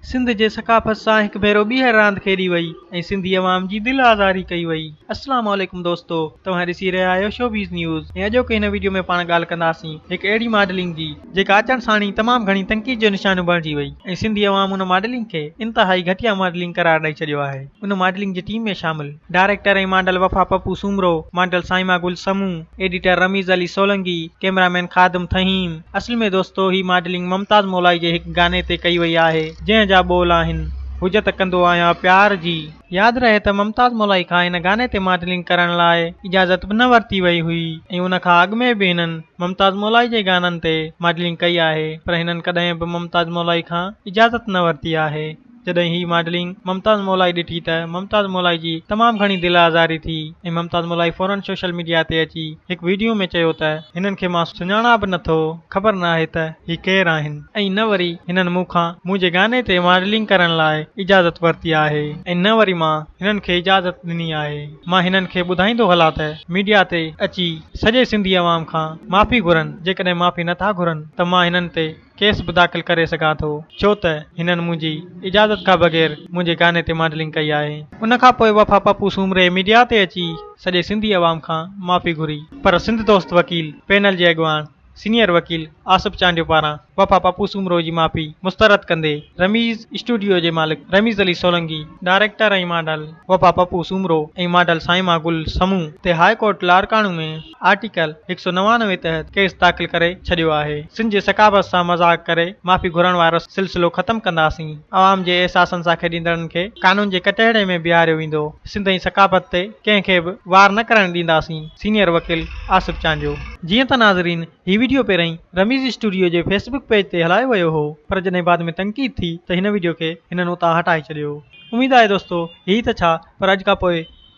سنڌ جي ثقافت سان هڪ ڀيرو ٻيهر راند کيڏي وئي ۽ سنڌي عوام جي دل آزاري ڪئي وئي. السلام عليڪم دوستو توهان ڏسي رهيا آهيو شوبيز نيوز ۽ اڄوڪي هن وڊيو ۾ پاڻ ڳالهه ڪنداسين هڪ اهڙي ماڊلنگ جي جيڪا اچڻ ساڻ ئي تمام گهڻي تنقيد جو نشانو بڻجي وئي ۽ سنڌي عوام ان ماڊلنگ کي انتهائي گهٽيا ماڊلنگ قرار ڏئي ڇڏيو آهي ان ماڊلنگ جي ٽيم ۾ شامل director ۽ model Wafa Pappu Soomro model Saima Gul Samoon editor Rameez Ali Solangi cameraman Khadim Theem. اصل ۾ دوستو هي ماڊلنگ ممتاز مولائي جي هڪ گاني تي ڪئي وئي آهي جنهن جا ٻول آهن هجت ڪندو آهيان پيار جي. ياد رهي ته ممتاز مولائي کان هن گاني تي ماڊلنگ ڪرڻ لاء اجازت به نه ورتي وئي هئي ۽ ان کان اڳ ۾ به هنن ممتاز مولائي جي گانن تي ماڊلنگ ڪئي آهي پر هنن ڪڏهن به ممتاز مولائي کان اجازت نه ورتي آهي. جڏهن هي ماڊلنگ ممتاز مولائي ڏٺي ته ممتاز مولائي جي تمام گهڻي دل آزاري ٿي ۽ ممتاز مولائي فورن سوشل ميڊيا تي اچي هڪ ويڊيو ۾ چيو ته هنن کي مان سڃاڻان به نه ٿو خبر نه آهي ته هي ڪير آهن ۽ نه وري هنن مون کان منهنجي گاني تي ماڊلنگ ڪرڻ لاء اجازت ورتي آهي ۽ نه وري مان هنن کي اجازت ڏني آهي مان هنن کي ٻڌائيندو هلان ته ميڊيا تي اچي سڄي سنڌي عوام کان معافي گهرن جيڪڏهن معافي نه ٿا گهرن ته مان هنن تي ڪيس به داخل ڪري سگهان ٿو ڇو ته هنن منهنجي اجازت کان بغير منهنجي گاني تي ماڊلنگ ڪئي آهي. ان کان پوء وفا پپو سومري ميڊيا تي اچي سڄي سنڌي عوام کان معافي گهري پر سنڌ دوست وڪيل پينل جي اڳواڻ سينئر وڪيل آصف چانڊيو پاران وفا پپو سومرو جي معافي مسترد ڪندي رميز اسٽوڊيو جي مالڪ Rameez Ali Solangi, director ۽ model Wafa Pappu Soomro ۽ model Saima Gul Samoon تي هاء ڪورٽ لاڙڪاڻو ۾ آرٽيڪل هڪ سؤ نوانوي تحت ڪيس داخل ڪري ڇڏيو آهي، سنڌ جي ثقافت سان مذاق ڪري معافي گهرڻ وارو سلسلو ختم ڪنداسين، عوام جي احساسن سان کيڏيندڙن کي قانون جي ڪٽهڙي ۾ بيهاريو ويندو، سنڌ ۽ ثقافت تي ڪنهن کي به وار نه ڪرڻ ڏينداسين، سينيئر وڪيل آصف چانڊيو. جيئن ته ناظرين هي وڊيو پهرئين رميز اسٽوڊيو جي فيس بڪ پيج تي هلايو ويو هو پر جڏهن بعد ۾ تنقيد ٿي ته هن وڊيو کي هنن اتان هٽائي ڇڏيو اميد آهي دوستو هي ته ڇا پر اڄ کان پوء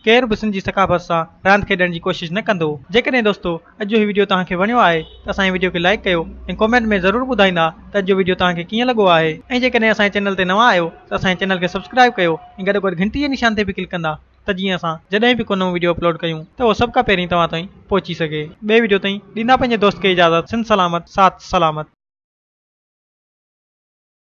ڪير به سنڌ جي ثقافت سان راند کيڏڻ جي ڪوشش نه ڪندو. جيڪڏهن دوستو اڄ جو هي وڊيو توهان کي وڻيو آهي ته اسان جي وڊيو کي لائيڪ ڪيو ۽ ڪومينٽ ۾ ضرور ٻڌائيندا ته اڄ جو وڊيو توهان کي ڪيئن لڳو آهي ۽ جيڪڏهن اسان جي چينل تي نوان آهيو ته اسان جي چينل کي سبسڪرائيب ڪيو ۽ گڏوگڏ گهنٽي جي نشان تي به ڪلڪ ڪندا ته جيئن اسان جڏهن به ڪو نئون وڊيو اپلوڊ ڪيون ته اهو سڀ کان پهرين توهان تائين پهچي سگهي. ٻئي وڊيو تائين ڏيندا پنهنجي دوست کي اجازت سنڌ سلامت ساٿ سلامت.